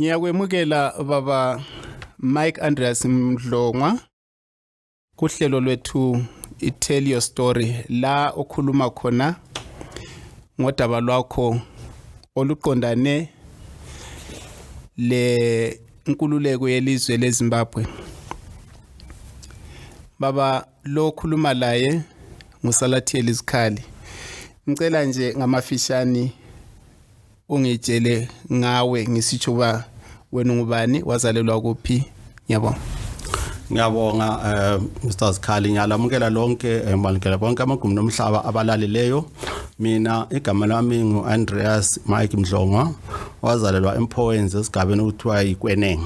Ngiyakwemukela baba Mike Andreas Mdlongwa kuhlelo lwethu i-tell your story la okhuluma khona ngodaba lwakho oluqondane le nkululeko yelizwe leZimbabwe baba lo khuluma laye ngusalathiyeli izikhali ngicela nje ngamafishane ungitshele ngawe ngisitsho uba wena ungubani wazalelwa kuphi ngiyabonga ngiyabonga um mr zikhali ngiyalamukela lonke eh, ngibalukela bonke amagumbi nomhlaba abalalileyo mina igama lami ngu-andreas mike mdlongwa wazalelwa emphowenzi esigabeni okuthiwa yikweneng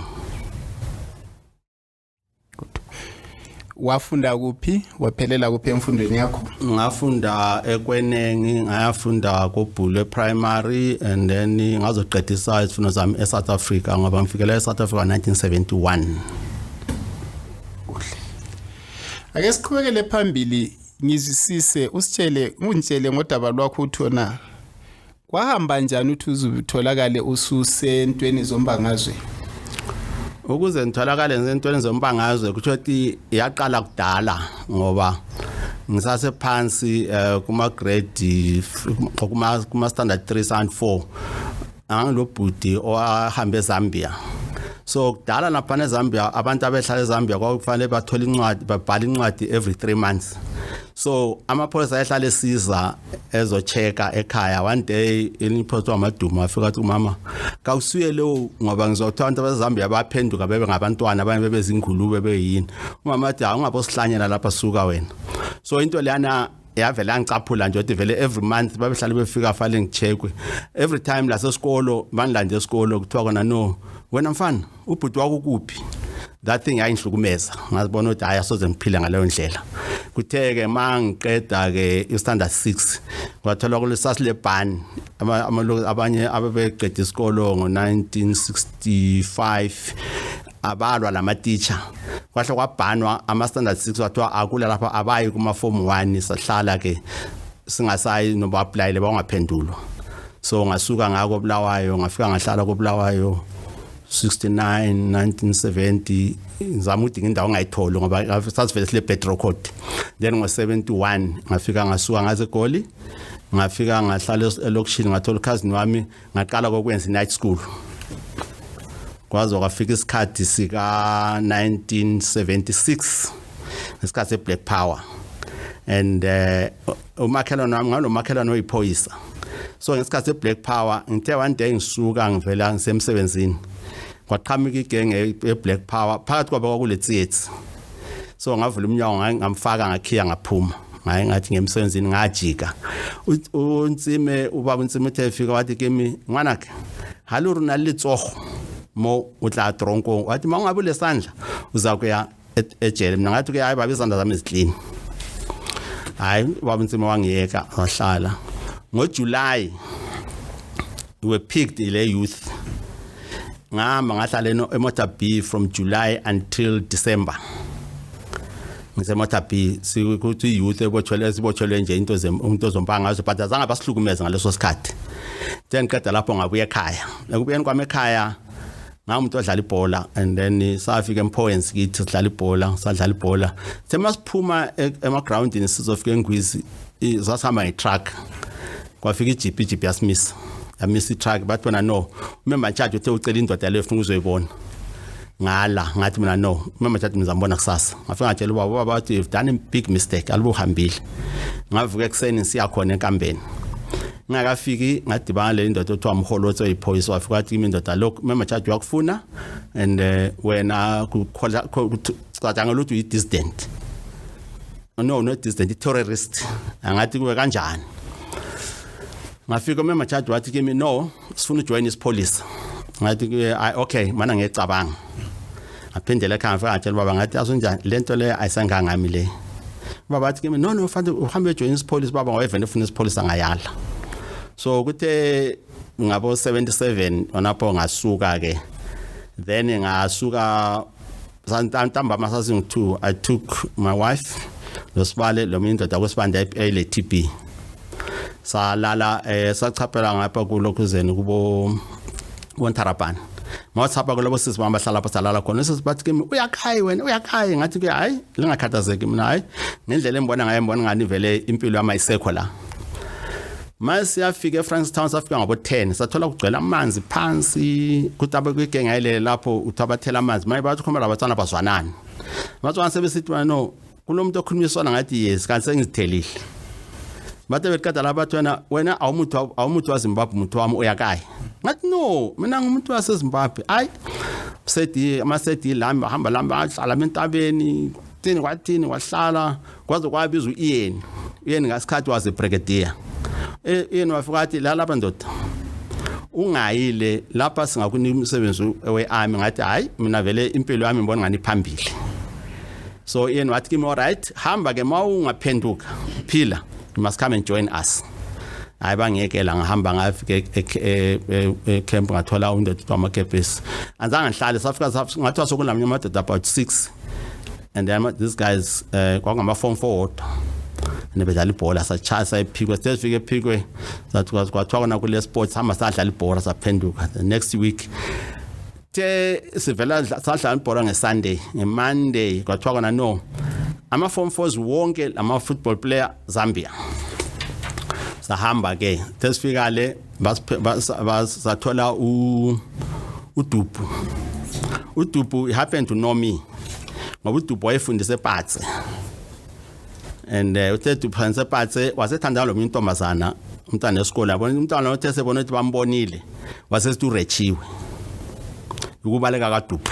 wafunda kuphi waphelela kuphi emfundweni yakho ngafunda ekwenengi ngayafunda kobhulwe primary and then ngazoqedisa izifundo zami e-south africa ngoba ngifikela e-south africa 1971 kuhle ake siqhubekele phambili ngizwisise usitshele ungitshele ngodaba lwakho uthona kwahamba njani ukuthi uzitholakale ususentweni zombangazwe ukuze ngitholakale ngisentweni zombangazwe kusho ukuthi yaqala kudala ngoba ngisasephansi um kuma-grade kuma-standard three standard four angangilobhuti owahambe ezambia so kudala naphana ezambia abantu abehlala ezambia kwakufanele bathole incwadi babhale incwadi every three months so amaphoyisa ayehlala esiza ezochecka ekhaya one day elinye iphoyisa wamaduma afika athi umama kawusuye lewo ngoba ngizwa kuthiwa abantu abazambia baphenduka bebe ngabantwana abanye bebezingulube beyini umama athi hawu ungabosihlanyela lapha suka wena so into leyana yavele angicaphula nje ukuthi vele every month babehlale befika fale ngichekwe every time lasesikolo bandilande esikolo kuthiwa kona no wena mfana ubhuti wakukuphi that thing yayingihlukumeza ngazibona ukuthi hayi asoze ngiphile ngaleyo ndlela kuthe-ke ma ngiqeda-ke istandard six kwathola kule sasilebhani abanye abebeqeda isikolo ngo-nineteen sixty five abalwa lama teacher kwahle kwabhanwa ama standard 6 wathiwa akula lapha abayi kuma form 1 sahlala ke singasayi noba aplayile bawungaphendulwa so ngasuka ngako bulawayo ngafika ngahlala kobulawayo 69 1970 ngizama udinga indawo ongayitholi ngoba sasivele sile petro code then ngo-71 ngafika ngasuka ngaze egoli ngafika ngahlala elokishini ngathola ukhazini wami ngaqala kokwenza night school kwaze kwafika isikhathi sika 1976 ngesikhathi seblack power and eh, umakhelwane wami ngalomakhelwane oyiphoyisa so ngesikhathi seblack power ngithe one day ngisuka ngivela ngisemsebenzini kwaqhamuka igenge eblack power phakathi kwabo kwakule theatre so ngavula umnyango ngaye ngamfaka ngakhiya ngaphuma ngaye ngathi ngemsebenzini ngajika unsime ubaba unsime uthe fika wathi kimi ngwanake haluri na litsogo mo o tla tronkong wathi ma ungabe lesandla uza kuya e-, ejele mina ngathi ke hayi baba izandla zami ziclean hayi baba unsime wangiyeka wahlala ngojuly we were picked ile youth ngihamba ngahlala eMotor B from July until December ngiseMotor B sikuthi youth ebotshelwe sibotshelwe nje into into zompanga ngazo but azange basihlukumeze ngaleso sikhathi then qeda lapho ngabuya ekhaya ekubuyeni kwami ekhaya ngamuntu odlala ibhola and then safika emphoyens kithi sidlala ibhola sadlala ibhola sema siphuma e, ema groundini sizofika engwizi sasihamba ngetruck kwafika ijipi ijipi yasimisa yamisa itruck bathi wena no umemba ntshaji uthe ucela indoda leyo funa ukuzoyibona ngala ngathi mina no mama thathi ngizambona kusasa ngafika ngatshela ubaba ubaba wathi you've done a big mistake alibuhambile ngavuka ekuseni ngisiya khona enkambeni ngingakafiki ngadibana le ndoda othiwa mholotsi oyiphoyisa wafika wathi kimi ndoda lokhu mama thathi wakufuna and eh, wena kucatshangela ukuthi uyi-dissident no no dissident terrorist angathi kuwe kanjani ngafika umema charge wathi kimi no sifuna ujoin isipholisa ngathi kuye okay mana ngecabanga ngaphindela ekhaya ngafika ngatshela baba ngathi asunjani lento le ayisangangami le baba wathi kimi no no fanele uhambe ujoin isipholisa baba ngawevele ufuna isipholisa ngayala so kuthe ngabo 77 onapho ngasuka ke then ngasuka ntambama sazingu-two i took my wife nosibale lomunye indoda kwesibanda eyile t b salala um sachaphela ngapha kulokhuzeni kubo bontarabhani mawasihamba kulobo sisi bami bahlala lapho salala khona sisi bathi kimi uyakhayi wena uyakhayi ngathi ke hayi lingakhathazeki mina hayi ngendlela engibona ngayo ngibona ngani vele impilo yami ayisekho la ma siyafika efrankstown safika ngabo-10 sathola kugcwela amanzi phansi kuthi abekuyigenge ayilele lapho uthi abathela amanzi maye bathi ukhomela abatswana bazwanani abatswana sebesithi no kulo muntu okhuluma isona ngathi yes kanti sengizithelile bathe belikada la bathi wena wena awumuthi awumuthi wazimbabwe umuthi wami uyakayi ngathi no mina ngumuntu wasezimbabwe ayi sedi amasedi lami bahamba lami ahlala entabeni thini kwathini wahlala kwaze kwabiza uyeni uyeni ngasikhathi waze brigadier e, yena wafika athi la lapha ndoda ungayile lapha singakunika umsebenzi wearmy ngathi hayi mina vele impilo yami ngibona ngani phambili so yena wathi kimi alright hamba ke mawungaphenduka phila you must come and join us hayi bangiyekela ngihamba ngafika ecamp e, e, ngathola undoda wamakepesi anzange ngihlale safika ngathi wasokunamnye amadoda about six and then these guys uh, kwangama form 4 nebedlala ibhola satshaya sayiphikwe sesifike ephikwe kwathiwa kona kule sports hamba sadlala ibhola saphenduka the next week the sivela sadlala ibhola ngesunday ngemonday kwathiwa kona no ama-form fours wonke lama-football player zambia sahamba-ke sesifika le sathola udubhu udubhu he happened to know me ngoba udubhu wayefundisa epatse and uh, uthe udubhu fundisa epatse wasethanda lo intombazana umntana esikole yabona umntana othe sebona ukuthi bambonile wasesithi urechiwe ukubaleka kadubhu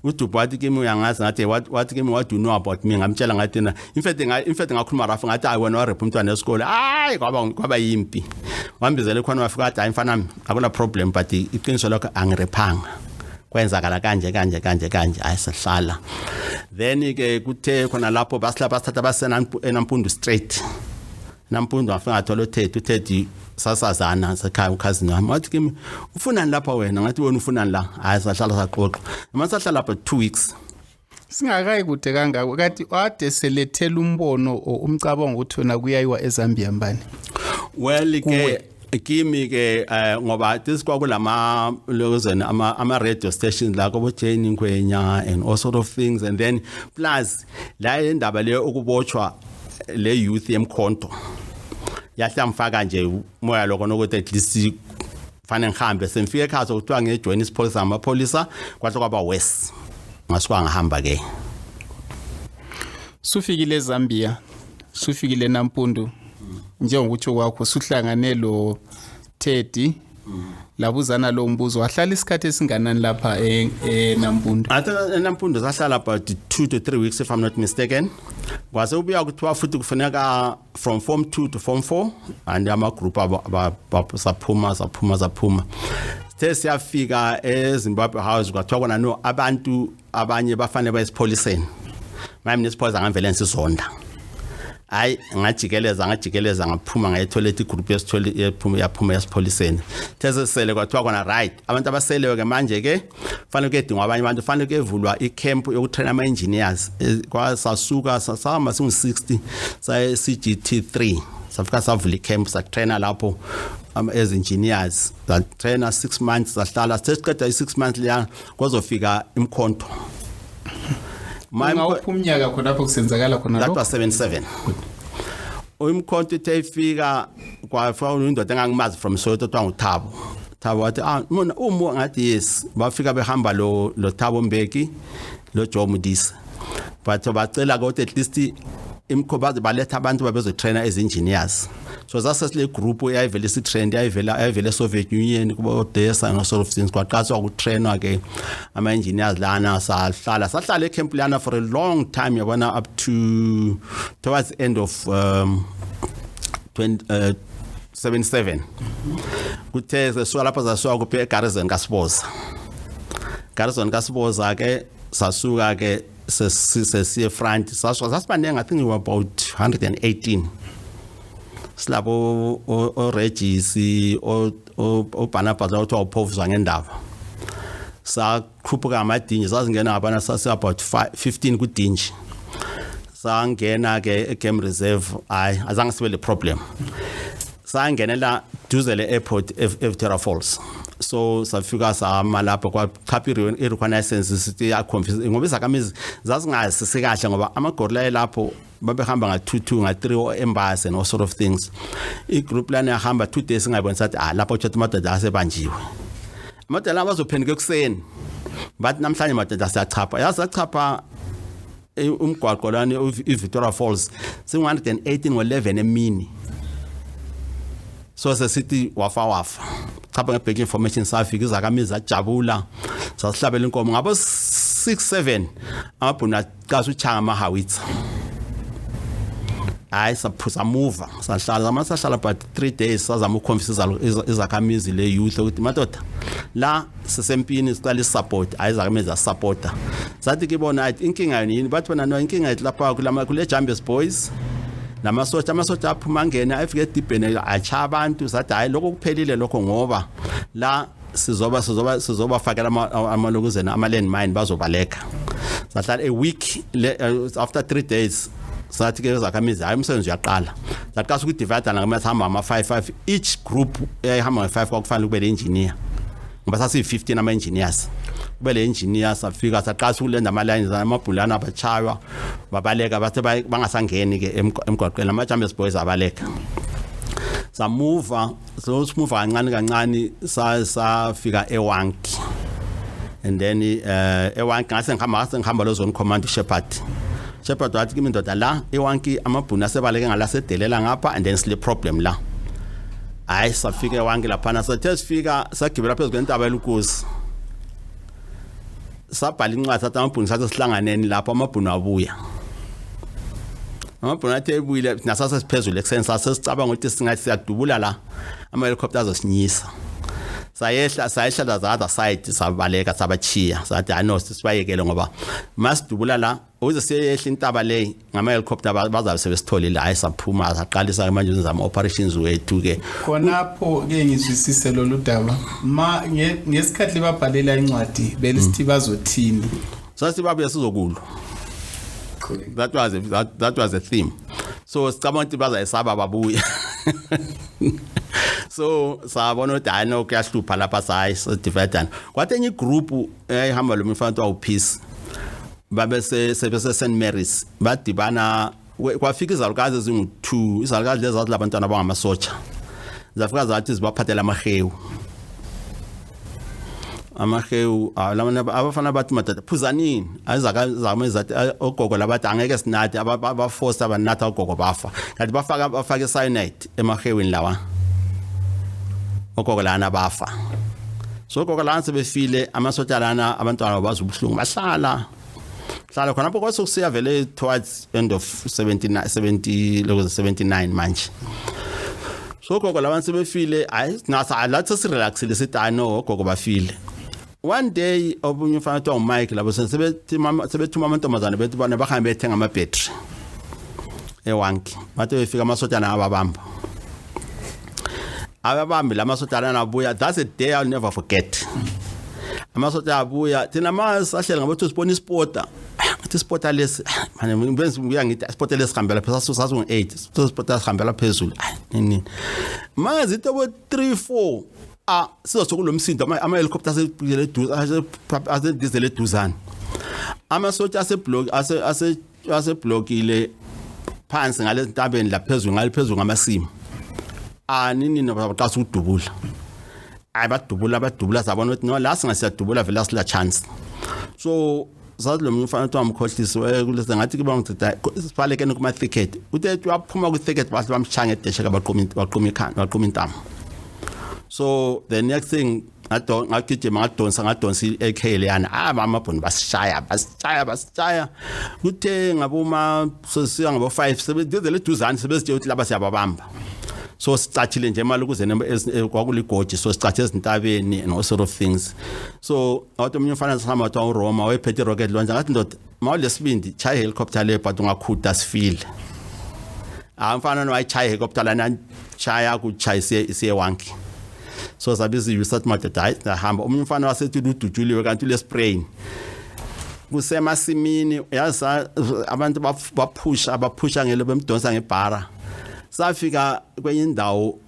udubhu wathi kimi uyangazi ngathi wathi kimi what do you know about me ngamtshela ngathi na in fact nga in fact ngakhuluma rafu ngathi hayi wena warep umntwana esikole hayi kwaba kwaba yimpi wambizela khona wafika athi hayi mfana akuna problem but iqiniso lakho angirephanga kwenzakala kanje kanje kanje kanje hayi sihlala then ke kuthe khona lapho basila basithatha basena enampundu straight nampundu afika athola uthethe uthethe sasazana sekhaya ukhazini wami wathi kimi ufunani lapha wena ngathi wena ufunani la hayi sahlala saxoxa noma sahlala lapha 2 weeks singakayi kude kangako kathi wade selethela umbono umcabango ukuthi wena kuyayiwa ezambia mbani well ke kimi ke eh, ngoba this kwakulama lozen ama ama radio stations la kobo Jane Ngwenya and all sort of things and then plus la indaba le ukubotshwa le youth yemkhonto yahlamfaka nje moya lokho nokuthi at least fanele ngihambe semfike ekhaya sokuthiwa ngijoyina isipholisa ngamapholisa kwahle kwaba worse ngasuka ngihamba ke sufikile ezambia sufikile nampundu njengokutsho kwakho suhlangane lo teddy labuzana lo mbuzo wahlala isikhathi esinganani lapha e, e, enampundu enampundu sahlala about two to three weeks if i'm not mistaken kwase ubuya kuthiwa futhi kufuneka from form 2 to form 4 and amagroup saphuma saphuma saphuma sithe siyafika ezimbabwe house kwathiwa kona no abantu abanye bafanele bayesipholiseni maye mina isipholisa ngangivele ngisizonda hayi ngajikeleza ngajikeleza ngaphuma ngayithola ethi igroup yesithole yaphuma yasipholiseni thezesele kwathiwa kona right abantu abaseleyo ke manje ke fanele kuyedingwa abanye abantu fanele kuyevulwa icamp yokutraina ama-engineers eh, kwasasuka sahamba singu-60 saye cgt 3 safika savula icamp satraina lapho as engineers satraina 6 months sahlala sithe siqeda i-6 months leya kwazofika imkhonto ungawuphi umnyaka khonapho kusenzakala khona that was 77 umkhonto ithe ifika kwafika indoda engangimazi from soweto kuthiwa nguthabo Thabo wathi ah mona umu ngathi yes bafika behamba lo lo Thabo Mbeki lo Joe Mudisa but bacela ukuthi at least imkhoba baletha abantu babezotrainer as engineers so zase sile group eyayivele si trend yayivela yayivele Soviet Union kubo Odessa no sort of things kwaqaswa ku trainer ke ama engineers lana sahlala sahlala e camp lana for a long time yabona up to towards end of um 20 uh, 77 kuthe zisuka lapho zasuka kuphi eGarrison kaSiboza Garrison kaSiboza ke sasuka ke sesiye front sasuka sasibaningi i think we were about 118 silabo oRegis oBarnabas othiwa uphofuzwa ngendaba sa khuphuka amadinji sasingena ngabana sase about 15 kudinji sangena ke egame reserve hayi azange sibe le problem sangenela duze le airport eVitera Falls so safika sama lapho kwachapha irikhwana license sithi yakhombisa ngoba izakhamizi zazingazi sikahle ngoba amagorila elapho babehamba nga-two-two nga-three or embase no sort of things igroup lana yahamba two days ingayibonisa ukuthi ah lapho tshatha amadoda asebanjiwe amadala abazophenduka ekuseni bathi namhlanje madoda siyachapha yazi sachapha eh, umgwaqo lani i-victoria falls singu-118 ngo-11 emini so sesithi wafa wafa chapha nge-back information safika izakamizi ajabula sasihlabela inkomo ngabo 6 7 amabhunu kaze uchanga amahawitsa hayi saphuza muva sahlala zamana sahlala but three days sazama ukukhombisa izakhamizi le youth ukuthi madoda la sisempini sicela isupport hayi izakhamizi zasupporta sathi kibona inkinga yini bathi bona no inkinga yethu lapha kule jambes boys namasotsha amasotsha aphuma angena efike edibheni atsha abantu sathi hhayi lokho kuphelile lokho ngoba la sizoba sizoba sizobafakela amalokuzeni ama-land mine bazobaleka sahlala a week eh, after three days sathi ke zakhamizi hayi umsebenzi uyaqala sathi kasi ukudivida nakumele sihamba ama-five five each group eyayihamba nge-five kwakufanele kube le engineer ngoba sasiyi-fifteen ama-engineers kube le engineer safika saqasa ukulenda ama-lines amabhulana abachaywa babaleka bathe bangasangeni-ke emgwaqweni ama-champions boys abaleka samuva so simuva kancane kancane sa safika ewanki and then eh ewanki ngase ngihamba ngase ngihamba lo zone command shepherd shepherd wathi kimi ndoda la ewanki amabhunu asebaleke ngalasedelela ngapha and then sile problem la hayi safika ewanki laphana sathe sifika sagibela phezu kwentaba elukuzi sabhala incwadi sathi amabhunu sathi sihlanganeni lapho amabhunu abuya amabhunu athi ebuyile nasase siphezulu ekuseni sase sicabanga ukuthi singathi siyadubula la ama helicopter azosinyisa sayehla sayehla the other side sabaleka sabachiya sathi hayi no sibayekele ngoba masidubula la uze siyehla intaba le ngama helicopter bazabe sebesithole la esaphuma saqalisa manje uzama operations wethu ke khonapho ke ngizwisise lolu daba ma ngesikhathi babhalela incwadi belisithi bazothini sasibabuye sizokulwa that was a, that, that was a theme so sicabanga ukuthi bazayisaba babuye so sabona ukuthi hayi no kuyahlupha lapha sayi sidivedana kwathi enye igroup eyayihamba eh, lo mfana kuthiwa upeace babese sebese St Mary's badibana we- kwafika izalukazi ezingu-2 izalukazi lezi zathi labantwana abangamasotsha zafika zathi zibaphathela amahewu amahewu ah, labana- abafana bathi madoda phuzanini azakazame zathi ah, ogogo labathi angeke sinathe abafosta banatha ogogo bafa kanti bafaka bafake cyanide emahewini lawa ogogo lana bafa so ogogo lana sebefile amasotsha lana abantwana bazi ubuhlungu bahlala hlala khonapho kwase kusiya vele towards end of 79 70 lokho 79 manje so gogo labantu sebefile hayi nasa lathi sirelaxile sithi hayi no gogo bafile one day obunye ufana kuthiwa ngumike labo sebethuma amantombazane bethi bona bahambe bethenga amabhetri ewanki bathi befika amasotshana ababamba ababambi la masotshana anabuya that's a day i'll never forget amasotshana abuya thina ma sahlele ngabothi sibona ispota ukuthi ispota lesi manje ngibenza ngiya ngithi ispota lesi hambela phezulu sasu sasu ngo8 ispota sihambela phezulu nini manje ito bo 3 4 a siza sokunomsindo ama-helicopter asegizele eduzane amasotsha aseblokile phansi ngale zintabeni laphezulu ngale phezulu ngamasimo anini nabaqasa ukudubula ayi badubula badubula sabona ukuthi no la singasiyadubula vele asila chance so sazi lo mfana kuthiwa mkhohlisi kulese ngathi kuba ngicida sibalekene kuma-thicket uthe waphuma kwi-thicket bahle bamshaya ngedeshe kabaquma ikhanda baquma intamo so the next thing ngagijima ngadonsa ngadonsa i-ak leyana hayi mama bhoni basishaya basishaya basishaya kuthe ngaboma sesiya ngabo-five sebedizele eduzane sebezitshela ukuthi laba siyababamba so sicathile nje imali ukuze eh, kwakuligoji so sicathe ezintabeni and all sort of things so wathi omunye umfana sihamba wathiwa uroma wayephethe irocket launcher ngathi ndoda ma ulesibindi chaya ihelicopter leyo but ungakhuda sifile hayi mfana no wayichaya ihelicopter lana chaya kuchaya siye wanki so sabe iziyusa sathi madoda hayi sahamba omunye umfana wasethi ludutshuliwe kanti ulesprain kusemasimini yazi abantu baphusha baphusha ngelo bemdonsa ngebhara safika kwenye indawo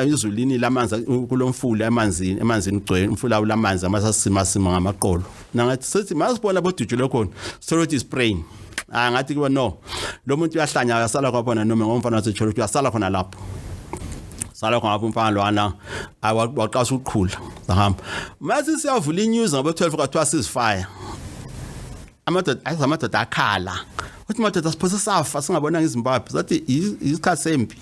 izulini lamanzi kulomfula emanzini emanzini ugcwele umfula ulamanzi amasasimasima ngamaqolo nangathi sithi masibona bodujule khona sithole ukuthi ispraying ah ngathi kuba no lo muntu uyahlanya akasala kwaphona noma ngomfana wasecholo uyasala khona lapho sala khona lapho umfana lwana awaqasha ukuqhula sahamba mase siyavula inews ngabo 12 kwathiwa sizifire amadoda ayiza amadoda akhala uthi madoda siphose safa singabonanga izimbabwe sathi isikhathi sempi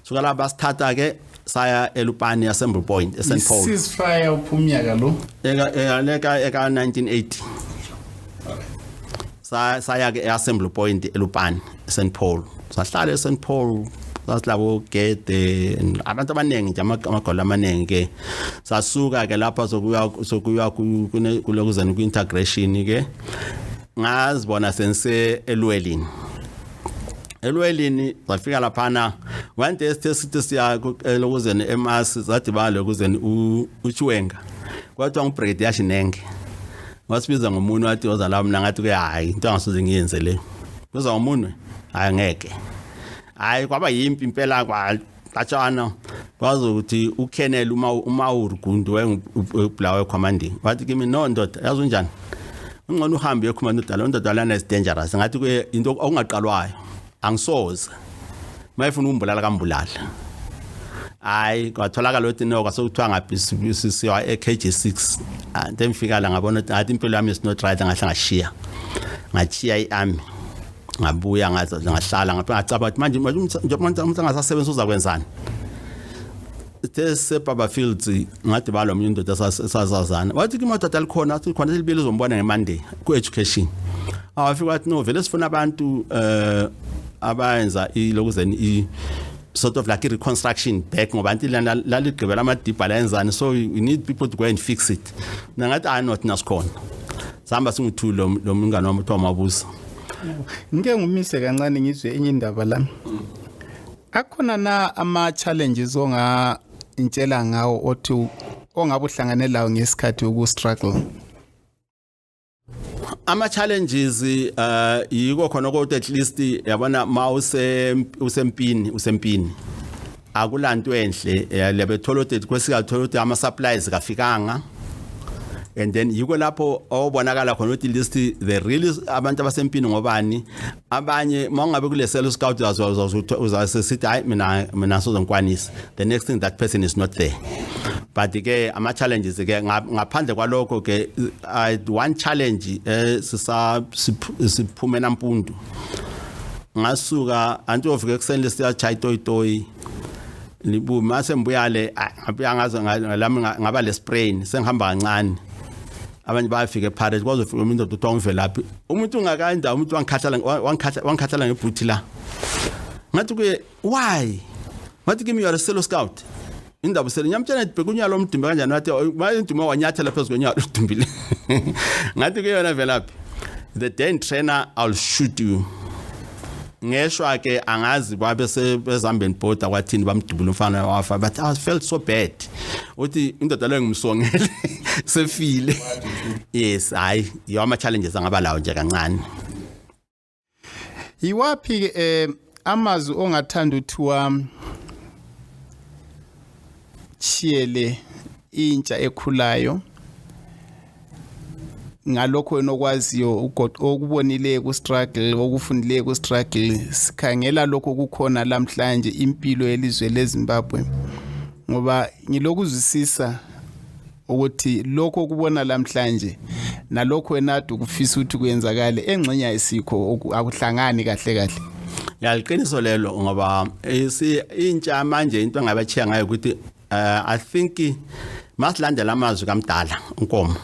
suka la basithatha ke saya elupani yasemble point eSt Paul ceasefire uphumnyaka lo eka eka eka 1980 saya ke eassembly point elupani St Paul sahlala eSt Paul sasilabo gede abantu abaningi nje amagolo amaningi ke sasuka ke lapha sokuya sokuya kulokuzana ku integration ke ngazibona sense elwelini elwelini zafika laphana one day sithe sithi siya lokuzeni emasi zadibana lokuzeni uchiwenga kwathiwa ngubrigade yashinenge wasibiza ngomunwe wathi woza la mina ngathi ke hayi into angasoze ngiyenze le kuza ngomunwe hayi ngeke hayi kwaba yimpi impela kwatshana kwazi ukuthi ukhenele uma uma urugundu wayengubulawe commanding wathi kimi no ndoda yazi unjani ungcono uhambe uyokhuluma nodala ndoda lana is dangerous ngathi into okungaqalwayo angisoze mayefuna ukumbulala kambulala hayi kwatholakala ukuthi no kwasekuthiwa ngaphi siwa e-kg six ante ah, ngifika la ngabona ukuthi ngathi impilo yami is not right ngahle ngashiya ngashiya i-army ngabuya ngahlala ngaphi ngacaba ukuthi manje njengoba umuntu angasasebenzi uzakwenzani sithe sisebhaba fields ngathi balo mnye indoda sasazana wathi ke madoda likhona athi khona libili zombona ngemonday ku-education awafika wathi no vele sifuna abantu um abayenza ilokuzeni i sort of like reconstruction back ngoba anti lana laligqibela amadibha layenzani so we need people to go and fix it mina ngathi hayi not nasikhona sihamba singu-two lo mngane wami kuthiwa mabusa ngike ngumise kancane ngizwe enye indaba lami akhona na ama challenges onga ngitshela ngawo othi ongabe uhlangane lawo ngesikhathi uku-struggle ama-challenges uh yiko khona kodwa at least yabona ma usempini usempini akulanto enhle eh, lebethola ukuthi kwesikathola ukuthi ama-supplies kafikanga and then yiko lapho obonakala khona ukuthi list the real abantu abasempini ngobani abanye uma ungabe kulesela uscout uzasithi hayi mina mina sozonkwanisa the next thing that person is not there but ke ama challenges ke ngaphandle kwalokho ke i one challenge eh sisa siphume nampundu ngasuka anti ofike kuseni lesiya chai toy toy libu mase mbuyale ngabuya ngazo ngalami ngaba le sprain sengihamba kancane abanye bayafika eparate kwaze ufika umuntu odutwa umvelaphi umuntu ungakanda umuntu wangikhathala wangikhathala wangikhathala ngebhuthi la ngathi kuye why ngathi kimi you are a solo scout indaba usele nyamtshana ndibheka unyalo omdumbe kanjani wathi mayinduma wanyathela phezu konyalo udumbile ngathi kuyona velaphi the day trainer i'll shoot you ngeshwa ke angazi babe sebezambeni border kwathini bamdubula umfana wafa but i felt so bad uthi indoda leyo ngimsongele sefile yes hayi yawa ama challenges angaba lawo nje kancane yiwaphi ke eh, amazwi ongathanda uthiwa chiyele intsha ekhulayo ngalokho wena okwaziyo okubonileyo ku-struggle okufundileyo ku-struggle sikhangela lokho kukhona lamhlanje impilo yelizwe lezimbabwe ngoba ngilokuzwisisa ukuthi lokho okubona lamhlanje nalokho wena ade ukufisa ukuthi kuyenzakale engxenye ayisikho akuhlangani kahle kahle yaliqiniso lelo ngoba intsha manje into engabachiya ngayo ukuthi uh, i think masilandela amazwi kamdala unkomo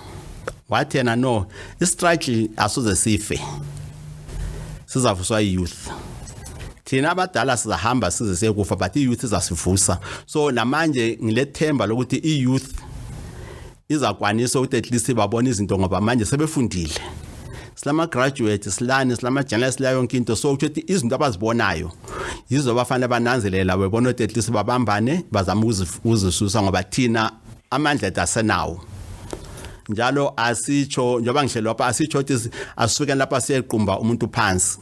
wathi yena no istruggle asoze sife sizavuswa youth thina abadala sizahamba size sekufa but i-youth izasivusa so namanje ngilethemba lokuthi i-youth izakwanisa ukuthi at least babone izinto ngoba manje sebefundile silama graduate silani silama journalist la yonke into so ukuthi izinto abazibonayo yizo bafanele bananzelela bebona ukuthi at least babambane bazama ukuzisusa ngoba thina amandla ethu asenawo njalo asitsho njengoba ngihlelo lapha asitsho ukuthi asifike lapha siyequmba umuntu phansi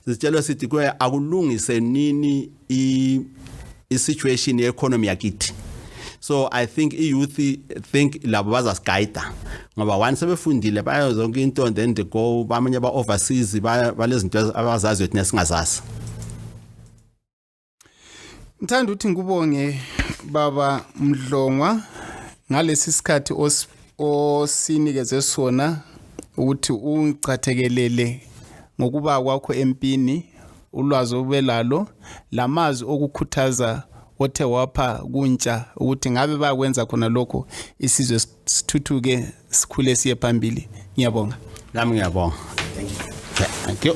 sitshelwe sithi kuye akulungise nini i situation yeeconomy yakithi so i think iyouth think labo bazasiguide ngoba one sebefundile bayo zonke into and then they go bamanye ba overseas balezinto abazaziyo thina singazazi ngithanda ukuthi ngikubonge baba mdlongwa ngalesi sikhathi osinikeze sona ukuthi ungicathekelele ngokuba kwakho empini ulwazi obelalo lamazwi okukhuthaza othe wapha kuntsha ukuthi ngabe bakwenza khona lokho isizwe sithuthuke sikhule siye phambili ngiyabonga nami ngiyabonga thank you